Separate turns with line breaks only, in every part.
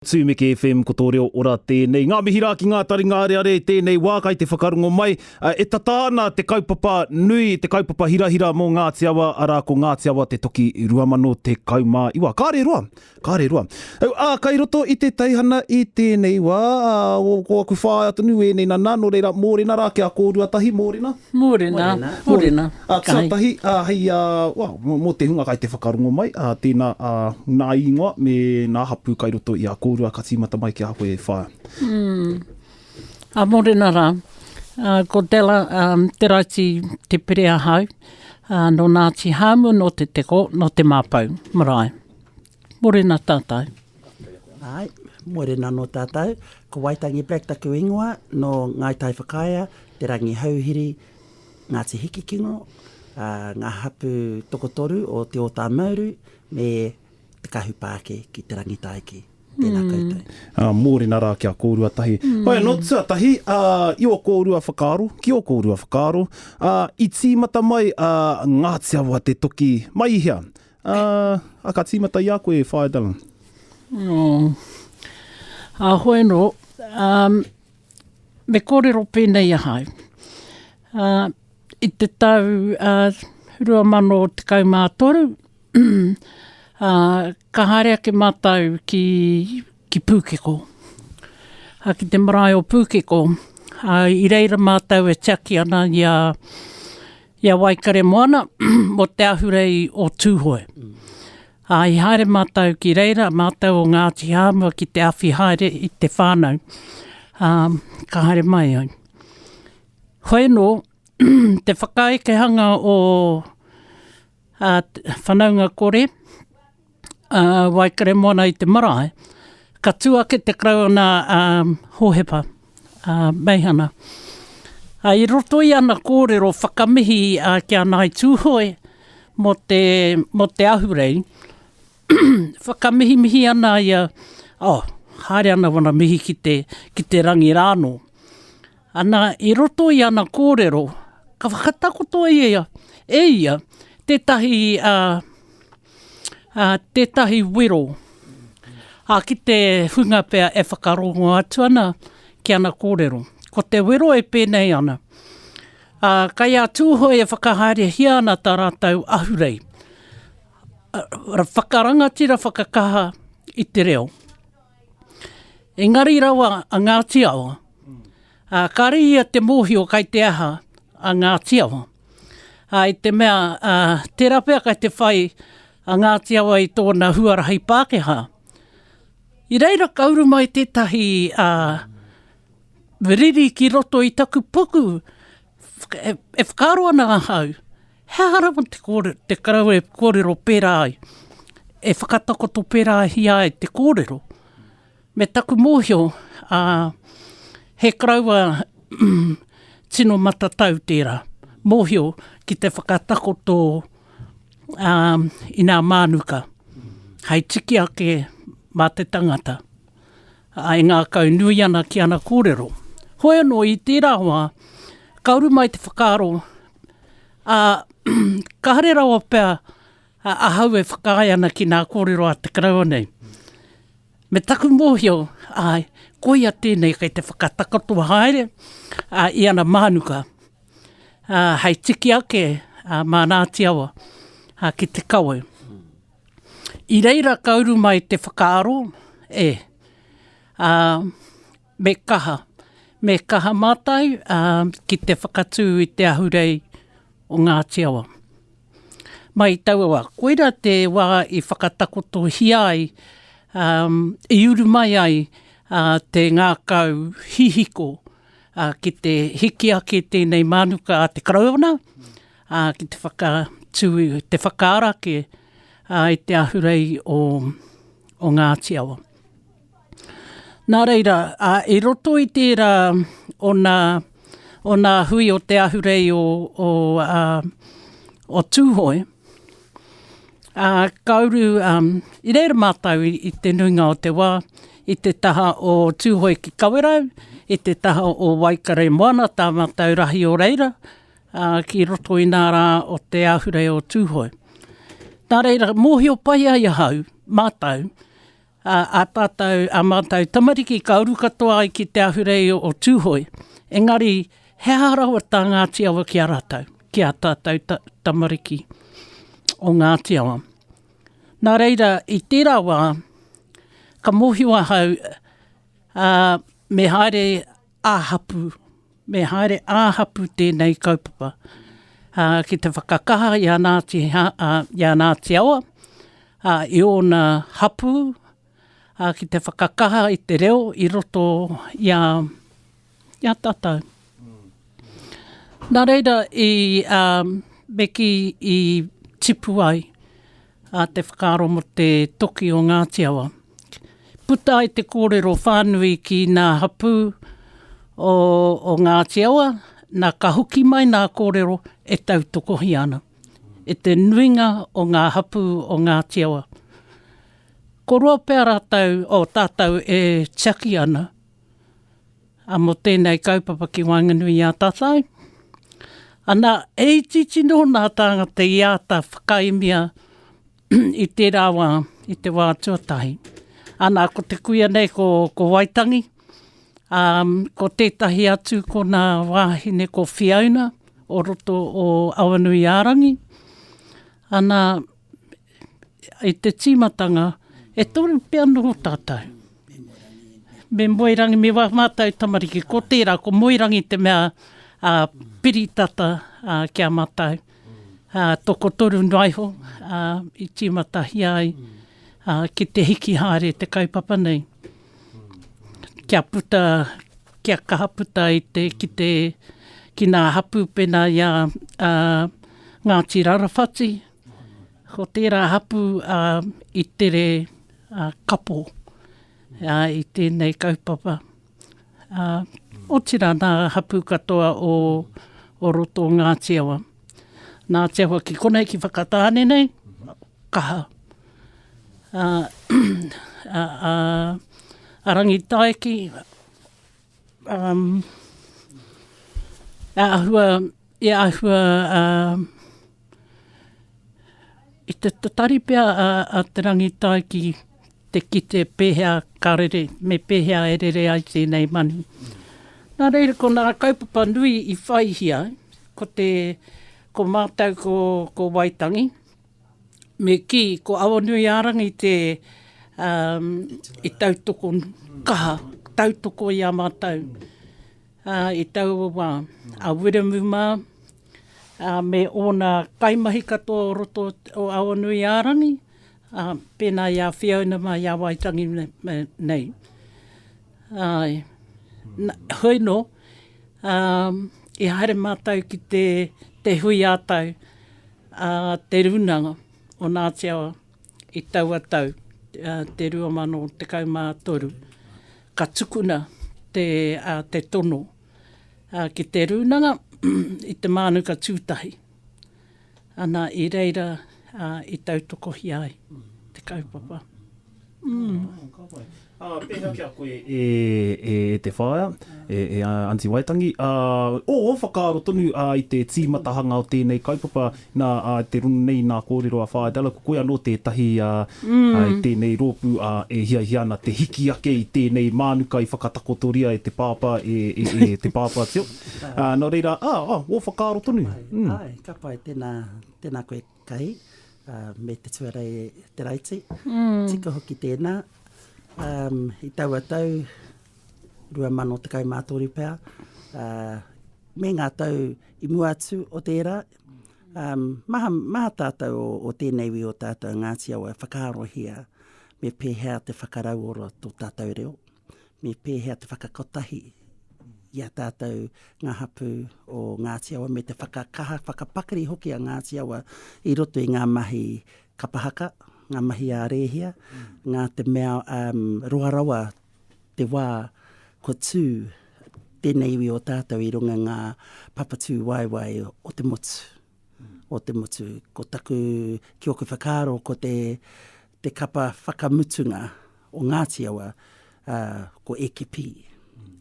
Tū Meke FM ko tō reo ora tēnei. Ngā mihi rā ki ngā taringa areare i tēnei wā kai te whakarongo mai. E tata ana te kaupapa nui, te kaupapa hirahira mō Ngāti Awa, arā ko Ngāti Awa te Toki 2019. Kāre roa, kāre roa. Ā, kai roto i te teihana i tēnei wā, ko aku whāea tonu ēnei nana, nō reira mōrena rā kia kōrua tahi, mōrena. Mōrena,
mōrena. Tuatahi,
hei, well, mō te hunga kai te whakarongo mai, tēnā, nā īngoa me nā hapū kai roto i a kōrua ka tīmata mai ki a koe e whā. Ā,
mōrena rā. Ko Della, te raiti, te pire ahau, nō Ngāti Hāmu, nō Te Teko, nō Te Māpou marae. Morena tātou. Āe,
morena nō tātou. Ko Waitangi Black taku ingoa, nō Ngāi Tai Whakaea, Te Rangi Hauhiri, Ngāti Hikikingo, ā, ngā hapū tokotoru o Te Ōtāmauru me Te Kahupāke ki Te Rangitaiki. Tēnā koutou. Ā, mōrena rā kia
kōrua tahi. Hoi anō, tuatahi, ā, i ō kōrua whakaaro, ki ō kōrua whakaaro, ā, i tīmata mai a Ngāti Awa te toki mai i hea? Ā, ā, ka tīmata i a koe e Whaea Dallin. Oh.
Ā, hoi anō, ā, me kōrero pēnei ahau. Ā, i te tau, ā, 2013, ā, ka haere ake mātou ki, ki Pūkeko. Ā, ki te marae o Pūkeko. Ā, i reira mātou e tiaki ana i a, I a Waikaremoana, mō te ahurei o Tūhoe. Ā, i haere mātou ki reira, mātou o Ngāti Hāmua ki te awhi haere i te whānau. Ā, ka haere mai ai. Hoenō, te whakaekehanga o, ā, whanaunga kore, a Waikaremoana i te marae, ka tū ake te Karauna a Hohepa, a Meihana. A, i roto i ana kōrero whakamihi a ki a Ngāi Tūhoe mō te, mō te ahurei, whakamihimihi ana ia, oh, haere ana wana mihi ki te, ki te rangi rānō. Ana, i roto i ana kōrero, ka whakatakoto ia, e ia, tētahi, a, Ā, tētahi wero. Ā, ki te hunga pea e whakarongo atu ana ki ana kōrero. Ko te wero e pēnei ana, ā, kei a Tūhoe e whakahaerehia ana tā rātou ahurei, ā, whakarangatira whakakaha i te reo. Engari rawa a Ngāti Awa, Ā, kāre ia te mōhio kai te aha a Ngāti Awa. Ā, i te mea, ā, tērā pea kai te whai a Ngāti Awa i tōna huarahi Pākehā. I reira ka uru mai tētahi, ā, riri ki roto i taku puku, e, e whakaaro ana ahau, he aha rawa te kōre, te kau e kōrero pērā ai, e whakatakoto pērāhia ai te kōrero. Me taku mōhio, ā, he karaua tino matatau tērā, mōhio ki te whakatakoto, ā, i nā mānuka, hei tikiake mā te tangata, ā, e ngākau nui ana ki ana kōrero. Hoi anō, i tērā wā, ka uru mai te whakaaro, ā, ka haere rawa pea ahau e whakaae ana ki nā kōrero a te karaua nei. Me taku mōhio, āe, koia tēnei kei te whakatakoto haere i ana mānuka hei tiki ake mā Ngāti Awa ki te kawe. I reira ka uru mai te whakaaro, e, Me kaha, me kaha mātou ki te whakatū i te ahurei o Ngāti Awa. Mai taua wā, koirā te wā i whakatakotohia ai, i uru mai ai te ngākau hihiko ki te hiki ake i tēnei mānuka a te Karauna, ki te whakatū, te whakaara ake i te ahurei o Ngāti Awa. Nā reira, i roto i tērā o nā, o nā hui o te ahurei o, o, o Tūhoe, ā, ka uru, i reira mātou i te nuinga o te wā, i te taha o Tūhoe ki Kawerau, i te taha o Waikare moana, tā mātou rahi o reira, ā, ki roto i nā rā o te ahurei o Tūhoe. Nā reira, mōhio pai ai ahau, mātou, Ā, ā tātou, ā mātou tamariki ka uru katoa ai ki te ahurei o Tūhoe, engari he aha rawa tā Ngāti Awa ki a rātou, ki ā tātou tamariki o Ngāti Awa? Nā reira, i tērā wā, ka mōhio ahau, ā, me haere, Ā-hapū. Me haere ā-hapū tēnei kaupapa ki te whakakaha i a Ngāti, i a Ngāti Awa, i ōna hapū, ki te whakakaha i te reo i roto i a, i a tātou. Nā reira, i, me kī i tipu ai A te whakaaro mo te toki o Ngati Awa. Puta ai te korero whanui ki na hapu o o Ngati Awa, na ka hoki mai na korero e tautokohia ana e te nuinga o nga hapu o Ngati Awa. Ko roa pea ratou, o tatou e tiaki ana a mo tenei kaupapa ki waenganui i a tatou. Ana, he iti tino na tangata i ata whakaemia i tera wa, i te wa tuatahi. Ana, ko te kuia nei ko, ko Waitangi, a, ko tetahi atu ko na wahine ko Fiona o roto o Awanuiarangi. Ana, i te tīmatanga, e toru pea noho tātou. Me Moerangi, me wā mātou tamariki, ko tērā, ko Moerangi te mea a piri tata a, ki a mātou. A, tokotoru noa iho a, i tīmatahia ai a, ki te hiki haere te kaupapa nei. Kia puta, kia kaha puta i te, ki te, ki nā hapū pēnā i a, a Ngāti Rarawhati, Ko tērā hapū a i tere a kapo a i tēnei kaupapa. A, otira nā hapū katoa o, o roto o Ngāti Awa. Ngāti Awa ki konei ki Whakatāne nei, kaha. A, a, a, a Rangitaiki, Um, e ahua, e ahua um, i te tatari pea a, a te rangitai ki te kite pēhea ka rere, me pēhea e rere ai tēnei manu. Nā reira, ko nā kaupapa nui i whaihia, ko te, ko mātou ko, ko Waitangi, Me kī, ko Awanuiārangi te i tautoko kaha, tautoko i a mātou i taua wā. A Wiremu mā me ōna kaimahi katoa o roto o Awanuiārangi, pēnā i a Whiauna mā, i a Waitangi nei. Āe, hoi nō, i haere mātou ki te hui ā-tau, A Te Rūnanga o Ngāti Awa i taua tau, te 2013, ka tukuna te, a, te tono, a, ki Te Rūnanga i te mānuka tūtahi. Ana, i reira, a, i tautokohia ai te kaupapa. Āe,
ka pai. Ā, pēhea ki a koe e, e te whaea, e, e Aunty Waitangi? Ā, ō, whakaaro tonu, ā, i te tīmatahanga o tēnei kaupapa, nā, ā, te rongo nei, nā, kōrero a Whaea Dallal, ko koe anō tētahi, ā, i tēnei rōpū, ā, e hiahia ana te hiki ake i tēnei mānuka i whakatakotoria e te pāpā, e, e, e te pāpā tio. Ā, nō reira, ā, ā, ō whakaaro tonu. Āe, āe, ka pai,
tēnā, tēnā koe. Kai, ā, me te tuarei e Taraiti. Tika hoki tēnā, ā, i taua tau 2013 pea, ā, me ngā tau i mua atu o tērā, ā, maha, maha tātou o, o tēnei wī o tātou a Ngāti Awa e whakaarohia me pēhea te whakarauora tō tātou reo. me pēhea te whakakotahi i a tātou ngā hapū o Ngāti Awa me te whakakaha, whakapakari hoki a Ngāti Awa i roto i ngā mahi kapahaka, ngā mahi a rēhia, ngā te mea um, roa rawa te wā kua tū tēnei iwi o tātou i runga ngā papatū waewae o te motu. o te motu. Ko taku, ki oku whakaaro, ko te, te kapa whakamutunga o Ngāti Awa, uh, ko Ekipi,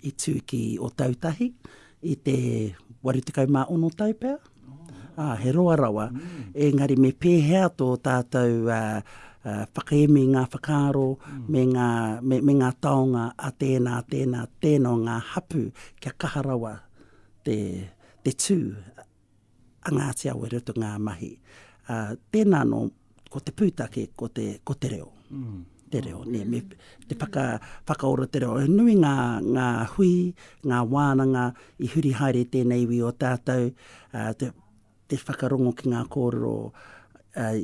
i tū ki Otautahi, i te 86 tau pea. Ah, he roa rawa, mm. engari me pēhea tō tātou uh, uh, whakaemi ngā whakaaro mm. me, ngā, me, me ngā taonga a tēnā, tēnā, tēnā ngā hapu kia kaha rawa te, te tū a Ngāti Awa i roto ngā mahi. Uh, tēnā anō, ko te pūtake, ko te, ko te reo. Mm. Te reo, ne, me, te whaka, whakaora te reo. E nui ngā, ngā hui, ngā wānanga i huri haere tēnei iwi o tātou, uh, te, te whakarongo ki ngā kōrero uh,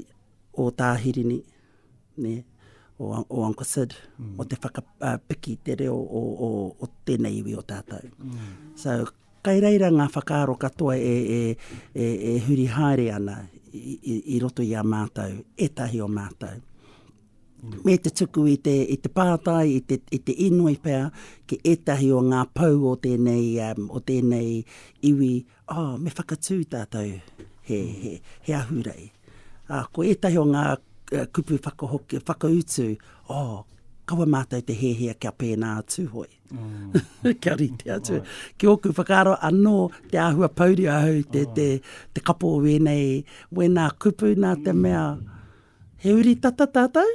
o Tāhirini, nē, o, o Uncle Sid, mm. o te whakapiki te reo o, o, o tēnei iwi o tātou. Mm. So, kai reira ngā whakaaro katoa e, e, e, e huri haere ana i, i, i roto i a mātou, etahi o mātou. Mm. Me te tuku i te, i te pātai, i te, i te inoi pea, ki etahi o ngā pau o tēnei, um, o tēnei iwi Oh, me whakatū tātou he, he, he ahurei. Uh, ko ētahi o ngā uh, kupu whakahoki, whakautu, oh, kawa mātou te hēhea kia pēnā atu hoi. Mm. kia rite atu. Right. Ki ōku whakaaro, anō te āhua pauri ahau, te, oh. te, te kapo wēnei, wēnā kupu nā te mea, mm. He uri tata tātou.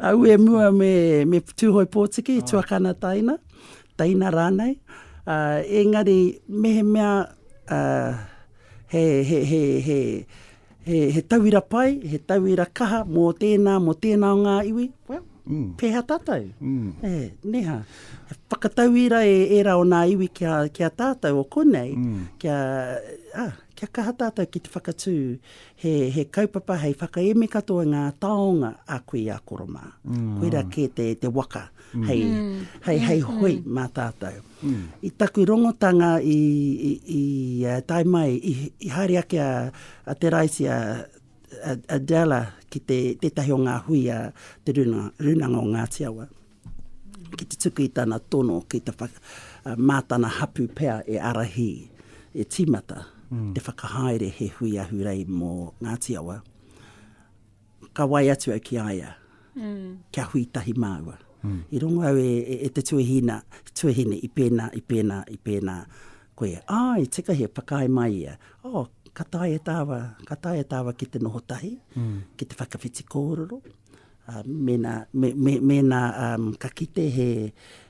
Au e mua me, me Tūhoe Pōtiki, Tuakana Taina, Taina rānei. Uh, engari, mehemea uh, he, he, he, he, he, he tauira pai, he tauira kaha mō tēnā, mō tēnā o ngā iwi, well, mm. pēhea tātou. Mm. E, eh, neha, whakatauira e, e ra o ngā iwi ki a, ki a tātou o konei, mm. kia, ah, kia kaha tātou ki te whakatū He, he kaupapa hei whakaemi katoa i ngā taonga a koe i a koro mā. Koirā kē te, te waka hei, hei, hei hui mā tātou. I taku rongotanga i, i, i uh, tae mai, i, i haere ake a, a Te Raiti, a, a, a Della ki te, tētahi o ngā hui a te runa, runanga o Ngāti Awa. ki te tuku i tana tono ki te whaka, uh, mā tana hapū pea e ārahi, e tīmata, mm. e whakahaere he hui ahurei mō Ngāti Awa. Ka wai atu au ki aia, mm. kia hui tahi māua. Mm. I rongo au e, e, e te tuahina, tuahine i pēnā, i pēnā, i pēnā. Koe, ai, tika he whakae mai ia. Oh, ka tae e tāwa, ka tae e tāwa ki te noho tahi, mm. ki te whakawhiti kōrero. Mēnā, mēnā ka kite he,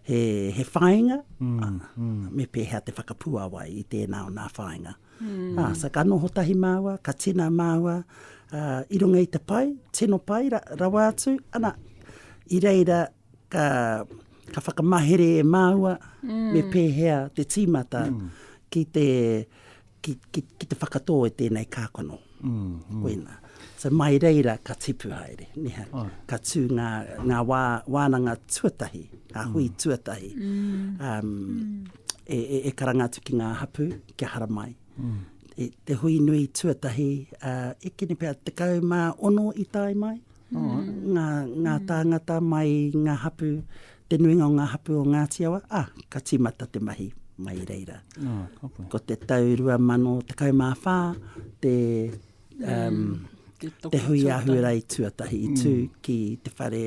he, he whāinga, me pēhea te whakapuāwai i tēnā o nā whāinga. So ka noho tahi māua, ka tina māua i runga i te pai, tino pai rawa atu, ana, i reira ka, ka whakamahere e māua me pēhea te tīmata ki te, ki, ki, ki te whakatō e tēnei kākano. Mm, mm. Koina. So mai reira ka tipu haere, neha, oh. ka tū ngā, ngā wā, wānanga tuatahi, ngā mm. hui mm. tuatahi, mm. Um, mm. E, e, e karanga atu ki ngā hapu, kia haramai. Mm. E, te hui nui tuatahi, uh, e kene pēr, tekau mā ono i tae mai, ngā, ngā tāngata mai i ngā hapū, te nuinga o ngā hapū o Ngāti Awa, a, ka tīmata te mahi mai i reira. Ko te tau 2014, te, um, te hui a Hurai tuatahi i tū ki te whare,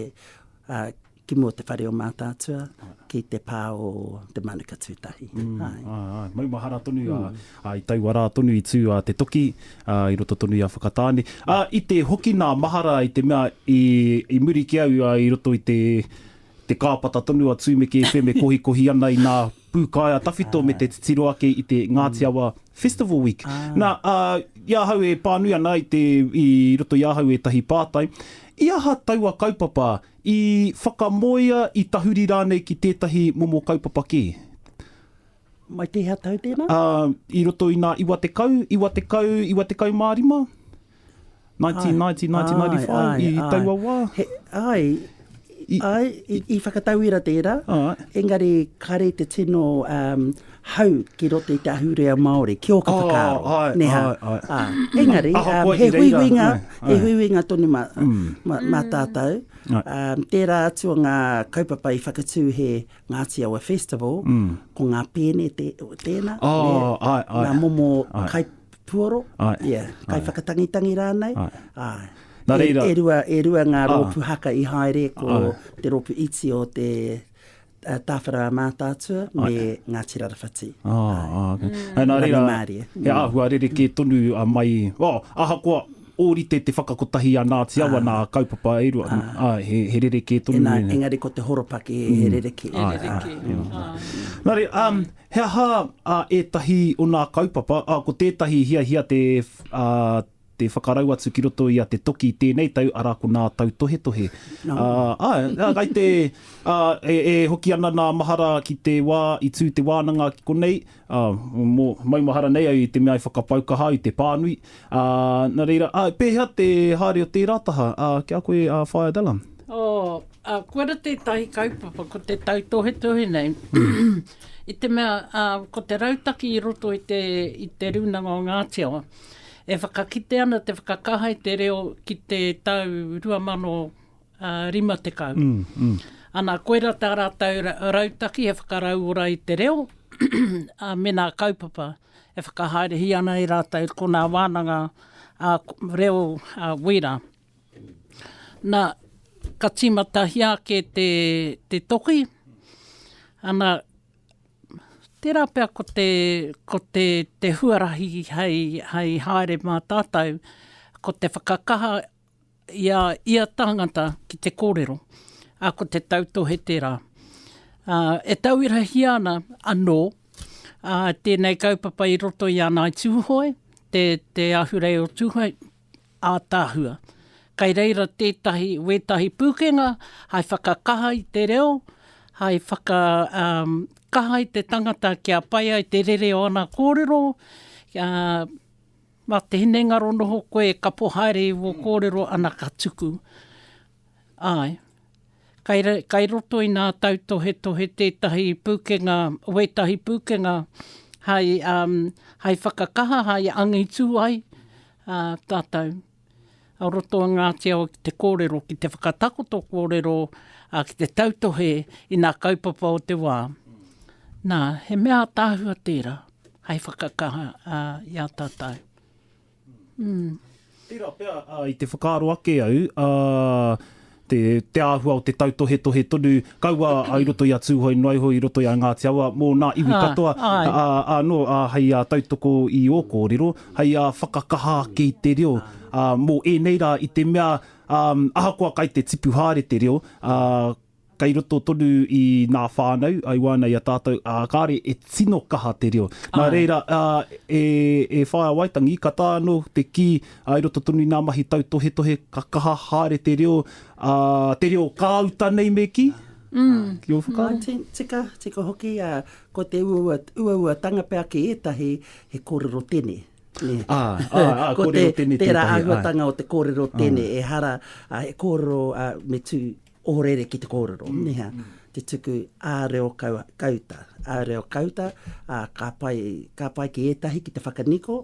a, ki mō te whare o Mātaatua, ki te pā o Te Manuka Tūtahi. Mm, ai. ai, ai.
Maumahara tonu, mm. a, a, i taua rā tonu i tū a te toki, a, i roto tonu i a Whakatāne. A, i te hoki nā mahara i te mea, i, i muri ki au, a, i roto i te, te kāpata tonu a Tūmeke FM e kohikohi ana i nā pūkaea tawhito ah. me te titiro ake i te Ngāti mm. Awa Festival Week. Ah. Nā, a, i ahau e pānui ana i, te, i roto i ahau e tahi pātai, i aha taua kaupapa I whakamoea, i tahuri rānei ki tētahi momo kaupapa kē.
Mai tēhea tau tēnā? Ā, i roto i nā
iwa tekau, iwa tekau, iwa tekau mā rima, 1990, 1995, i taua wā. He, āe, āe,
i, i whakatauira tērā. Engari, kāre te tino, hau ki roto i te ahurea Māori, ki ō ka whakaaro. Oh, ai, neha. ai, ai. Ā, ah, engari, um, he huihuinga, he huihuinga tonu mā, mm. mā, mā mm. tātou. Um, tērā atu o ngā kaupapa i whakatū he Ngāti Awa Festival, mm. ko ngā pēne te, tēnā, oh, ne, ai, ai. ngā momo ai. kai puoro, ai. Yeah, kai ai. whakatangitangi rānei. Ai. Ai. Nā reira. E, e, rua, e rua ngā rōpu haka i haere ko ai. te rōpu iti o te Uh, Tāwhara Mātaatua me Ai. Ngāti Rarawhati. Ah, Ai. ah, okay.
Mm. Nā reira, Rangimārie. he mm. āhua rerekē tonu a mai, oh, ahakoa ōrite te whakakotahi a Ngāti Awa ah. nā kaupapa e rua, ah. ah, he, he rerekē tonu. Ena, e. engari ko te horopaki
mm. he rerekē. He ah, rerekē. Ah, yeah. ah.
Nā re, um, he aha uh, ētahi o nā kaupapa, uh, ko tētahi hiahia te, uh, te whakarau atu ki roto i a Te Toki i tēnei tau, arā, ko nā Tautohetohe. Ā, ā, ai te, ā, e, e hoki ana nā mahara ki te wā i tū te wānanga ki konei, ā, mō, maumahara nei au i te mea i whakapau kaha au i te pānui, ā, nā reira, ā, pēhea te haere o tērā taha, ā, ki a koe, ā, Whaea Dallum? Ō, ā,
kua rā tētahi kaupapa, ko te tautohetohe nei, i te mea, ā, ko te rautaki i roto i te, i te rūnanga o Ngāti Awa, E whakakite ana te whakakaha i te reo ki te tau 2050. Ana, koirā tā rātou rautaki e whakarauora i te reo, ā, mēnā kaupapa e whakahaerehia ana e rātou ko ngā wānanga reo wīra. Nā, ka tīmatahia ake te toki, ana, Tērā pea ko te, ko te, te huarahi hei, hei haere mā tātou, ko te whakakaha i a ia tāngata ki te kōrero, ā, ko te tautohe tērā. Ā, e tauirahia ana anō, ā, tēnei kaupapa i roto i a Ngāi Tūhoe, te, te ahurei o Tūhoe, ātaahua. Kai reira tētahi, wētahi pūkenga hai whakakaha i te reo, hai whaka, um, kaha i te tangata kia pai ai te rere o ana kōrero, a, ma te hinengaro noho koe ka po haere i wō kōrero ana ka tuku. Ae. Kai roto i nā tautohetohe tētahi pūkenga, wētahi pūkenga hai, hai whakakaha, hai angitū ai tātou o roto i ngā teo ki te kōrero, ki te whakatakoto kōrero, ki te tautohe i nā kaupapa o te wā. Nā, he mea ātaahua tērā hai whakakaha i a tātou.
Tērā pea, i te whakaaro ake au, te āhua o te tautohetohe tonu, kaua i roto i a Tūhoe noa iho i roto i a Ngāti Awa, mō nā iwi katoa, anō hei tautoko i ō kōrero, hei whakakaha ake i te reo, mō ēnei rā i te mea ahakoa kai te tipu haere te reo, kei roto tonu i ngā whānau, i wāna i a tātou, ā, kāore e tino kaha te reo. Nā reira, e, e Whaea Waitangi, ka taea anō te kī, i roto tonu i ngā mahi tautohetohe, ka kaha haere te reo, ā, te reo kāuta nei me kī? Ki ō whakaaro? Nā, tika, tika hoki,
ā, ko te uaua, uauatanga pea ki ētahi, he kōrero tene, nē. Ā, ā, ā, kōrero tene tētahi, āe. Ko te, tērā āhuatanga o te kōrero tene, ehara, he kōrero, ā, me tū, Ohorere ki te kōrero, niha, te tuku ā reo kau, kauta, ā reo kauta, ā, ka pai, ka pai ki ētahi ki te whakaniko,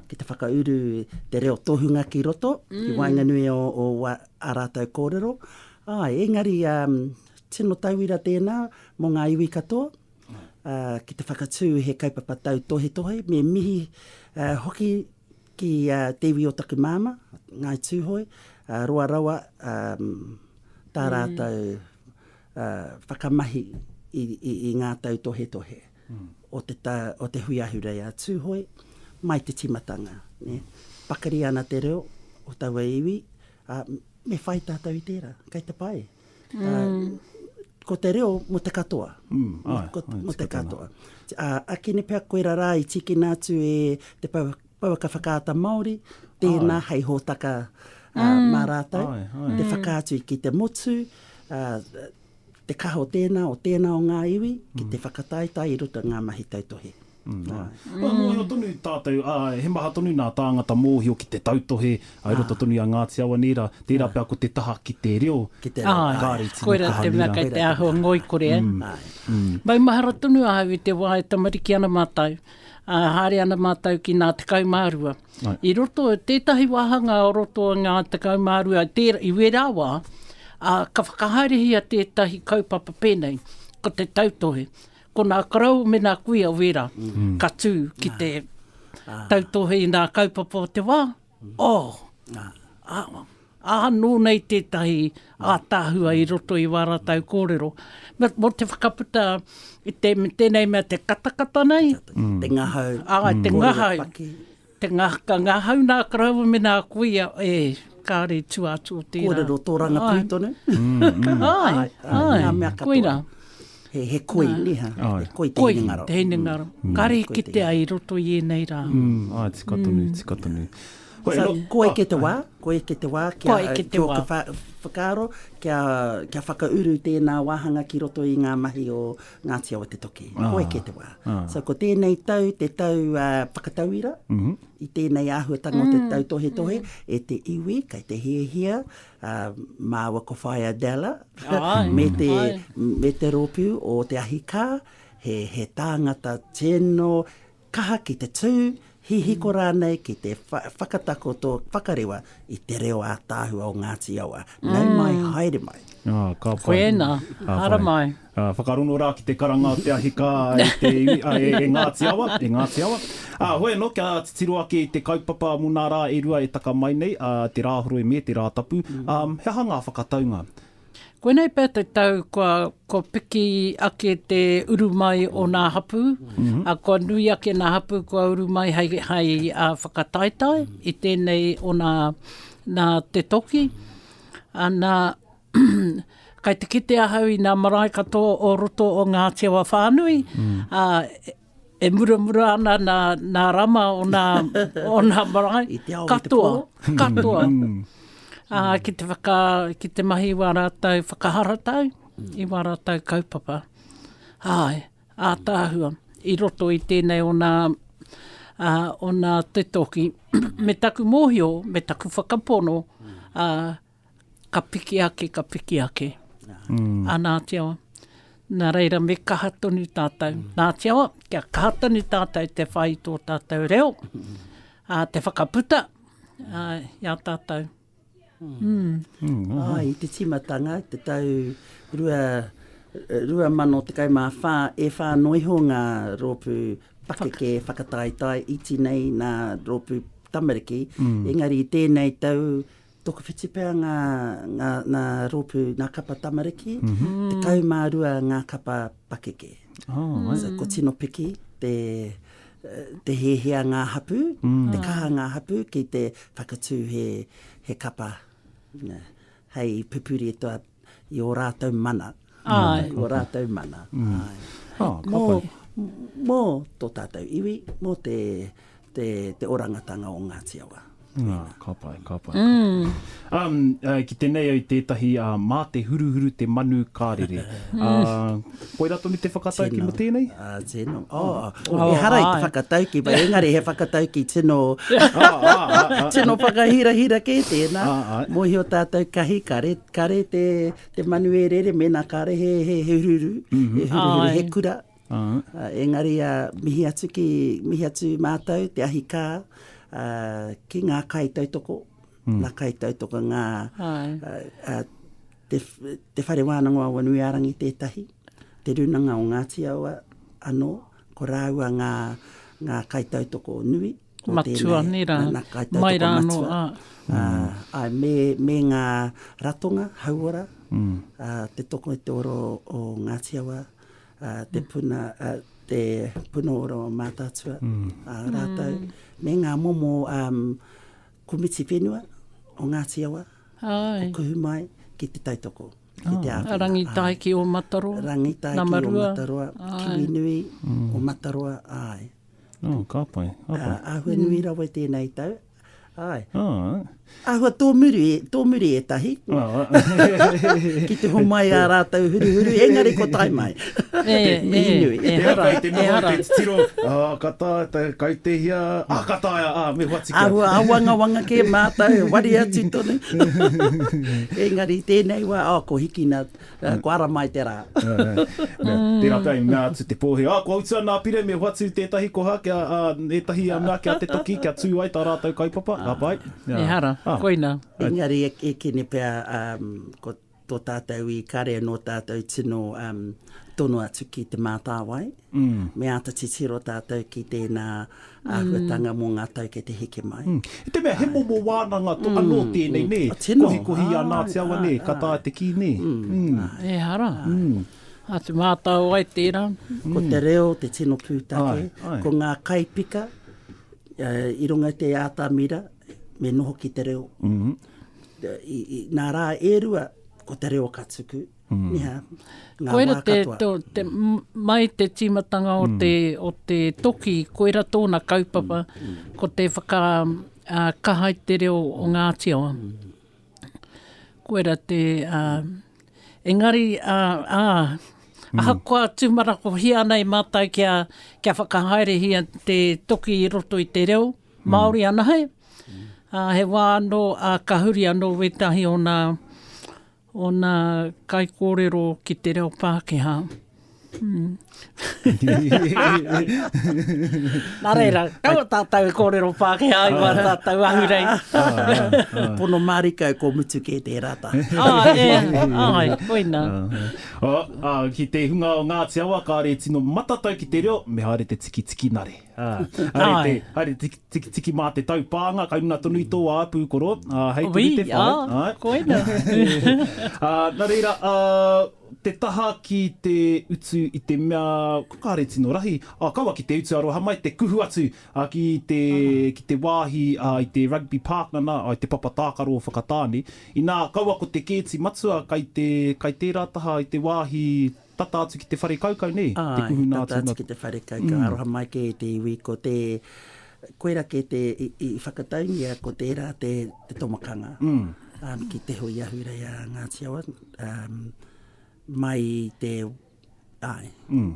ki te whakauru te reo tohunga ki roto, mm. ki waenganui o, o wa, a rātou kōrero. Ā, engari, ā, tino tauira tēnā mō ngā iwi katoa, uh, ki te whakatū he kaupapa tau tohetohe, me mihi uh, hoki Ki a Te Iwi o taku Māmā, Ngāi Tūhoe, roa rawa tā rātou whakamahi i ngā tautohetohe o te hui ahurea a Tūhoe mai te tīmatanga. Pakari ana te reo o taua iwi, ā, me whai tātou i tērā. Kei te pai. Ko te reo mo te katoa. Mm, ai, ko, ai, mo te katoa. A, a kini pea koe rara i tikina atu e te pau, pauaka whakaata Māori, tēnā ai. hei hōtaka a, mm. mā rātou, ai, ai. te whakaatu ki te motu, a, te kaha o tēnā, o tēnā o ngā iwi, ki te mm. whakataetae i roto ngā mahi tautohe. Kua mōhio
tonu tātou, ā, he maha tonu nā tāngata mōhio ki te tautohe i roto tonu i a Ngāti Awa nei rā, tērā pea ko te taha ki te reo, kāore i tino kaha nei rā. Āe,
koirā te mea kei te āhua ngoikore, ā. Maumahara tonu ahau i te wā e tamariki ana mātou, ā, haere ana mātou ki nā 12. I roto i tētahi wāhanga o roto i ngā 12, tērā, i wērā wā, ā, ka whakahaerehia tētahi kaupapa pēnei, ko te tautohe. Ko nā Karau me nā Kuia Wera ka tū ki te tautohe i nā kaupapa o te wā. Oh! Ā, nō nei tētahi ātaahua i roto i wā rātau kōrero. Mō te whakaputa i tēnei mea te katakata
nei.
Te ngahau. Āe, te
ngahau.
Te ngahaka, ngahau nā karaua me nā kuia, e, kāre tua atu o tērā. Kōrero tō Rangapū
tonu. Ai,
ai, ngā mea katoa. Koina.
He,
he koi,
nē, ha? Ai. He koi te hinengaro. Koi te hinengaro. Mm. Kāre
i kitea i roto i ēnei rā. Mm. Ai, tika tonu,
mm. tika tonu. Koe, so,
koe ke te wā, koe ke te wā, kia, koe ke te wā. Kia whakaaro, kia, kia whakauru tēnā wāhanga ki roto i ngā mahi o Ngāti Awa te toki, koe kē te wā. So ko tēnei tau, te tau whakatauira, i tēnei āhuatanga o te tautohetohe, e te iwi, kei te hiahia, māua ko Whaea Della, me te, me te rōpū o te ahikā, he, he tāngata tēno, Kaha ki te tū, hihiko rānei ki te whakatakoto, whakarewa i te reo ātaahua o Ngāti Awa. Nau mai, haere mai. Ah, ka pai. Koiena,
hara mai. Ah, whakarongo rā ki te
karanga o te ahi kā e te iwi, ah, e Ngāti Awa, e Ngāti Awa. Ah, hoi anō, kia titiro ake i te kaupapa mō nā rā e rua e taka mai nei, ah, te Rāhoroi me te Rātapu. Um, he aha ngā whakataunga? Koinei pea
te tau kua, kua piki ake te uru mai o nā hapū, mm -hmm. a kua nui ake nā hapū kua uru mai hai, hai a whakataetae i tēnei o nā, nā te toki. Ana, kai te kite ahau i nā marae katoa o roto o Ngāti Awa whānui, mm. a, E muramura ana nā, nā Rama o nā, o nā marae. I te ao, katoa, i te pō. Katoa, katoa. Ā, ki te whaka, ki te mahi wā rātou whakaharatau, i wā rātou kaupapa. Āe, ātaahua, i roto i tēnei o nā, ā, o nā te toki, me taku mōhio, me taku whakapono, ā, ka piki ake, ka piki ake. Ā, nā te awa, nā reira me kaha tonu tātou. Nā te awa, kia kaha tonu tātou te whai i tō tātou reo, ā, te whakaputa i a tātou.
Āe, i te tīmatanga, te tau 2014, e whā noa iho ngā rōpū pakeke whakataetae iti nei nā rōpū tamariki, engari i tēnei tau Tokowhiti pea ngā, ngā, ngā rōpū, ngā kapa tamariki, mm -hmm. te kau mā rua ngā kapa pakeke. Oh, mm. so, ko tino piki te, te hēhea ngā hapu, mm. te kaha ngā hapu ki te whakatū he, he kapa. Hei pupuri e toa i ō rātou mana. Ai. Ko rātou mana. Ai. Ā, ka pai. Mō, mō tō tātou iwi, mō te, te, te orangatanga o Ngāti Awa. Ā, ka pai,
ka pai. Um, uh, ki tenei au tētahi, uh, mā te huruhuru te manu ka rere. Uh, koira tonu te whakatau ki mō tēnei? Ā, tino.
Oh, oh, oh, ehara i te whakatau ki, ba, engari he whakatau ki tino, tino whakahirahira kē tēnā. Mōhio tātou kahi, kare, kare te, Te manu e rere, mēnā kāre he, he, he hururu, he hururu, he kura. Uh, engari, uh, mihi atu ki, mihi atu mātou, te ahi kā, uh, ki ngā kai tautoko, mm. ngā kai tautoko, ngā, uh, uh, te, te whare wānanga o Wanuiārangi tētahi, te runanga o Ngāti Awa anō, ko rāua ngā, ngā kai tautoko nui, Matua nei rā,
mai rā anō. Āe,
me ngā ratonga, hauora, te toko i te oro o Ngāti Awa, te puna, te puna ora o Mātaatua, rātou, me ngā momo komiti whenua o Ngāti Awa, o Kuhu mai, ki te tautoko. A Rangitaiki
o Mataroa, Namaroa. Rangitaiki o Mataroa,
Kiwinui o Mataroa, āe. Oh, ka pai,
ka pai. Ā, āhua nui
rawa i tēnei tau. Āe. Alright. Āhua tōmuri, tōmuri ētahi. Alright. Ki te homai ā rātou huruhuru, engari ko tae mai. E, e, Mihi nui. e hara, Kei te e noho i hara.
te titiro, ā, ka taea te kai te hia, ā, ka taea, ā, me whati kia. Āhua āwangawanga
kē mātou, e wari atu tonu. Engari, i tēnei wā, ā, ko Hikina Kua ara mai te rā.
Tērā pea i mea atu te pōhē, ā, kua utua nā Pire me hoatu tētahi koha, ētahi mea ki a te toki kia tū ai tā rātou kaupapa, ka pai. Ehara,
koina. Engari e
kene pea ko tō tātou i kare nō tātou tino tono atu ki Te Mātāwai. Me āta titiro tātou ki tēnā āhuatanga mō ngā tau kei te heke mai. I te mea he momo
wānanga anō tēnei, nē? Kohikohi i a Ngāti Awa, nē? Ka taea te kī, nē? Ehara.
Āta mātao ai
tērā. Ko te
reo
te tino pūtake. Ko ngā
kaipika
i runga i te ātamira, me noho ki te reo. Nā rā e rua, ko te reo ka tuku. Ia, ngā wā katoa. Koera te,
te,
mai
te tīmatanga o, mm. te, o te toki, koera tōna kaupapa, mm. mm. ko te whaka uh, kahai te reo o Ngāti Awa. Mm. Koera te... Uh, engari, uh, uh, Mm. Ahakoa tūmarako hia nei mātai kia, kia whakahaere hia te toki i roto i te reo, Māori mm. anahe. Mm. Uh, he wā anō, uh, ka huri anō wētahi o nā, Ōna kaikōrero ki te reo Pākehā. Mm. Nā reira, kau tātou e kōrero Pākehā i wā tātou ahurei. Pono mārika
e kō mutu kē tērā tā. Ah, e,
ai, koina. Ah, ah,
ki te hunga o Ngāti Awa, kāre tino matatau ki te reo, me haere te tiki tiki nare. Haere te tikitiki mā te taupānga, kei runga tonu i tō wā pūkoro, hei tonu te whai. Wī, ā, koina. Nā reira, te taha ki te utu i te mea, kua kāre tino rahi, ā, kaua ki te utu aroha mai, te kuhu atu ki te wāhi i te Rugby Park nana, i te papa tākaro o Whakatāne. Inā, kaua ko te kēti matua kei tērā taha i te wāhi Tata atu ki te whare kaukau nei, te Āe, kuhuna tata atu atu na. ki te whare kaukau,
aroha mai kē i te iwi, ko te, koirā kē te, i, i whakataungia ko tērā te, te tomakanga, um, ki Te Hui Ahurei a Ngāti Awa, um, mai i te, āe,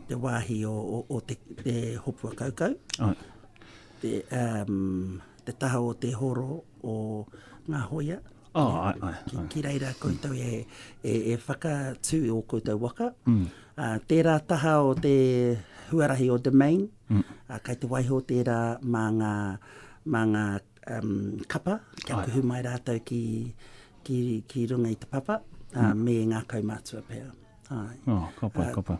te wāhi o, o, o te, te hopua kaukau, Āe. te, um, te taha o te horo o ngā hoia, Oh, ai, ai, ki, ai. Ki reira koutou e, e, e whakatū i o koutou waka. Mm. A, tērā taha o te huarahi o Domain, mm. a, kai te waiho tērā mā ngā, mā ngā um, kapa, kia ai. kuhu mai rātou ki, ki, ki runga i te papa, mm. a, me ngā kaumātua pēra. Ai. Oh, ka pai,
ka pai.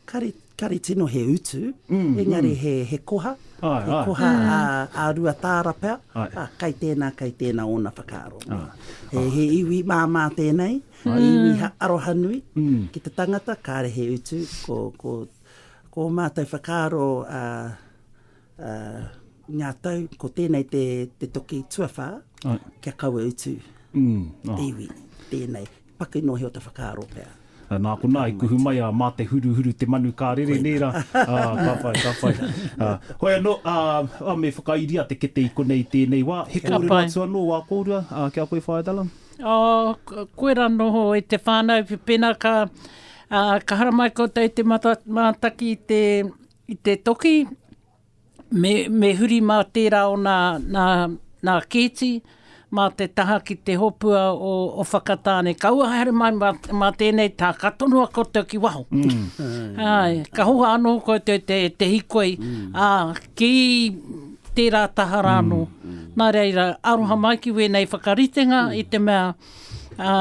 Kare, kare tino he utu, engari he, he koha, he koha a, a Ruataara pea, a, kai tēnā, kai tēnā ōna whakaaro. He, he iwi māmā tēnei, he iwi ha, arohanui, ki te tangata, kāre he utu, ko, ko, ko ō mātou whakaaro, a, Ā, i ngā tau, ko tēnei te, te toki tuawhā, Ai. kia kaua utu. Mm, ah. Iwi, tēnei. Paku noa he o te whakaaro pea. Ah, nā konā, i
kuhu mai a Mā te huruhuru te manu ka rere nē rā. Ah, ka whai, ka whai. Ah, hoi anō, ah, ah, me whakairia te kete i konei i tēnei wā. He kōrero atu anō wā kōrua, ah, ki a koe Whaea Dallin? Oh,
koe rā noho i te whānau, pēnā ka, ah, ka haramai koutou i te mata, mātaki i te, I te toki, me, me huri mā tērā o nā, nā, nā Kēti, mā te taha ki te hopua o, o Whakatāne. Kaua haere mai mā, mā tēnei taha, ka tonoa koutou ki waho. Mm. Ai, ka hoha anō koutou te, te hikoi, mm. ā, ki tērā taha rā anō. Mm. Nā reira, aroha mai ki wēnei whakaritenga mm. i te mea, ā,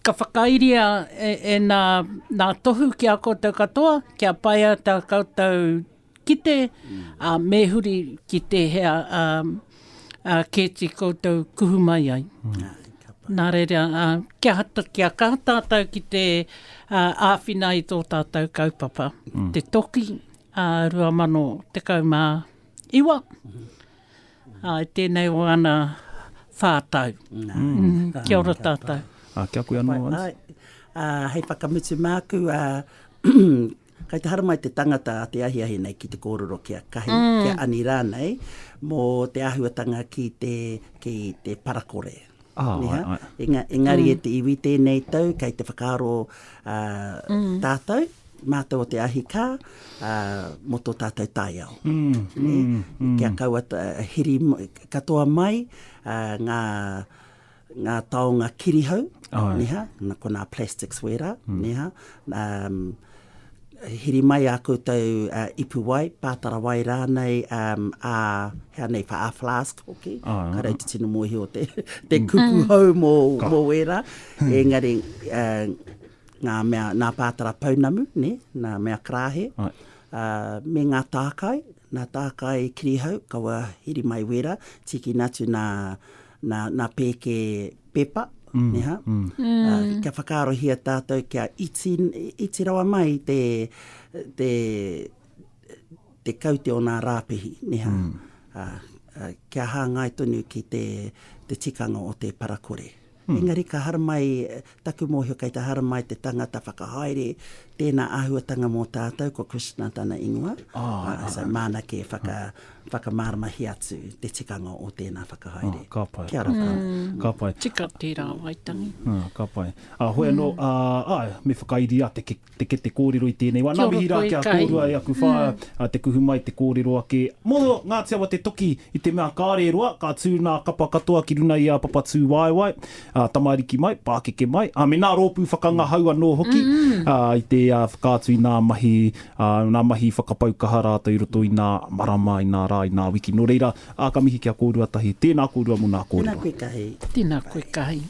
Ka whakairia e nā, nā Tohu ki a koutou katoa, kia pai ai tā koutou kite, ā, me huri ki tēhea kēti koutou kuhu mai ai. Nā reira, kia kaha tātou ki te āwhina i tō tātou kaupapa. Te Toki, 2019. Ā, i tēnei o ana whā tau. Kia ora tātou. Ā, kia koe anō, Alice.
Āe, ā, hei
whakamutu māku, ā, kai te haramai te tangata a te ahiahi nei ki te kōrero ki a Kahi, ki a Ani rānei, mō te āhuatanga ki te, ki te parakore. Engari e te iwi tēnei tau, kei te whakaaro mm. tātou, mātou o te ahi kā, mō tō tātou taiao. Mm. Mm. Kia kaua hiri katoa mai ngā, ngā taonga kirihau, oh. niha, ko nā plastics wērā, mm. niha, um, Hiri mai ā koutou ipu wai, pātara wai rānei, ā, he aha nei, wha-ā flask hoki, ka reiti tino mōhio te kupu hou mō ērā. Engari, ngā mea, nā pātara pounamu, nē, nā mea karāhe, me ngā tākai, nā tākai kirihau, kaua hiri mai wērā, tīkina atu nā, nā, nā pēke pepa, mm. neha. Mm. Mm. Uh, kia whakaarohia tātou, kia iti, iti rawa mai te, te, te kaute o nā rāpihi, neha. Mm. Uh, uh, kia hāngai tonu ki te, te tikanga o te parakore. Mm. Engari ka haramai Taku mōhio kei te haramai te tangata whakahaere, tēnā āhuatanga mō tātou ko Krishna tana ingoa, so māna kē whakamāramahia atu te tikanga o tēnā whakahaere. Ka pai. Kia ora koutou.
Ka
pai. Tika
tērā,
Waitangi. Ka pai.
Hoi anō, āe, me whakairi a te Te kete kōrero i tēnei wā. Nā mihi rā ki a kōrua e aku whā, te kuhu mai, te kōrero ake. Mō Ngāti Awa te toki i te mea kāre e roa, ka tū nā kapa katoa ki runa i a Papatūwaewae, tamariki mai, pākeke mai, me nā rōpū whakangahau anō hoki, i te whakaatu i nā mahi, nā mahi whakapau kaha rātou i roto i nā marama, i nā rā, i nā wiki. Nō reira, ka mihi ki a
kōrua
tahi. Tēnā kōrua mō nā
kōrero.
Tēnā koe tahi. Tēnā
koe
tahi.